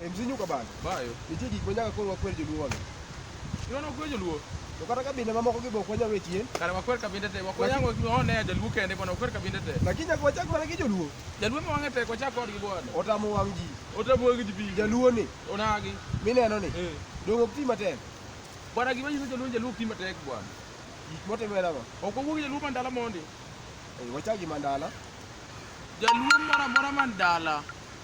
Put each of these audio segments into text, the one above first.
E mzee nyuka bana. Bayo. Nitie gik ma nyaka koro wakwer joluo wano. Iwano kwer joluo? To kata kabinde mamoko gi bok wanyalo chien. Kare wakwer kabinde te. Wakwer yango one jaluo kende kono wakwer kabinde te. Lakini nyaka wachak mana gi joluo. Jaluo ma wang'e tek wachak kodgi bwana. Otamo wang' ji. Otamo wang' ji bi. Jaluo ni. Onagi. Mineno ni. Eh. Dongo ok ti matek. Bwana gima nyiso jaluo jaluo ok ti matek bwana. Gik motimo en ang'o? Ok owuog jaluo mandala mondi. Eh, wachak gi mandala. Jaluo moro amora mandala.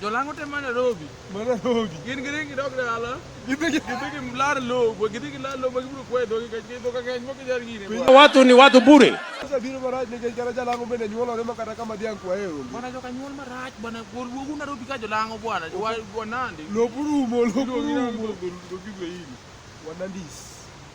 Jolango te ma Nairobi. Ma Nairobi. Gin gidhi gidok dala. Gidhi gidhi lar lobo, gidhi gilar lobo gibiro kwe dhogi ka gidho ka ng'eny moko jar gire. Watu ni watu bure. Sasa biro marach nikech kata Jalango bende nyuolore ma kata kama dhiang' kwaye onge. Bwana joka nyuol marach bwana wuogu Nairobi ka Jolango bwana. Wanandi. Lobo rumo, lobo rumo. Wanandis.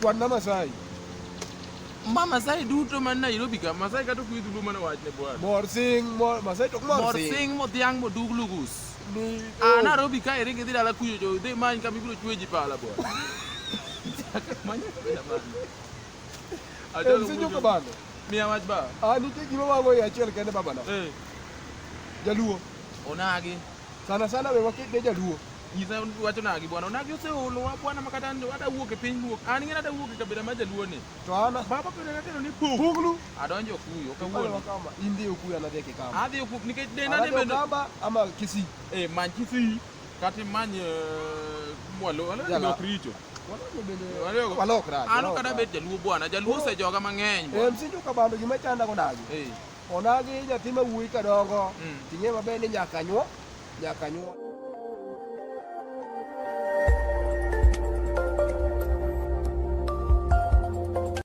Kwan ma Masai. Ma Masai duto man Nairobi ka, Masai kata kuidhu luo mana wachne bwana. Mor sing, mor Masai tok mor sing. Mor sing mo dhiang mo dug lugus. Ni. Ah, oh. Nairobi ka iri gidhi dala kuyo jo, dhi many kama ibiro chwe ji pala bwana. Manya kabila mano. Ajo lugu. Msijo kabano. Mia wach ba. Ah, nitie gima wago ya achiel kende babana. Eh. Jaluo. Onagi. Sana sana we wakit ne jaluo. Nyisa wacho nagi bwana, onagi oseolowa bwana makata ada wuok e piny luok. An ng'e ada wuok e kabila ma jaluo ni. To ana baba pele natero ni pug. Puglu. Adonjo kuyo kawuono. Kama indi okuyo anadhi e kikamba. Adhi okuyo nikech denda ne bende. Kamba ama Kisii. Eh man Kisii kati many eh, mwalo wala ni ok richo. Walok rach. An ok ada bet jaluo bwana, jaluo osejoga mang'eny. Eh msinjo kabando gima chanda konagi. Eh. Onagi nyathi ma wuoyi kadongo. Mm. Ting'e maber ni nyaka nyuo. nyaka nyuol.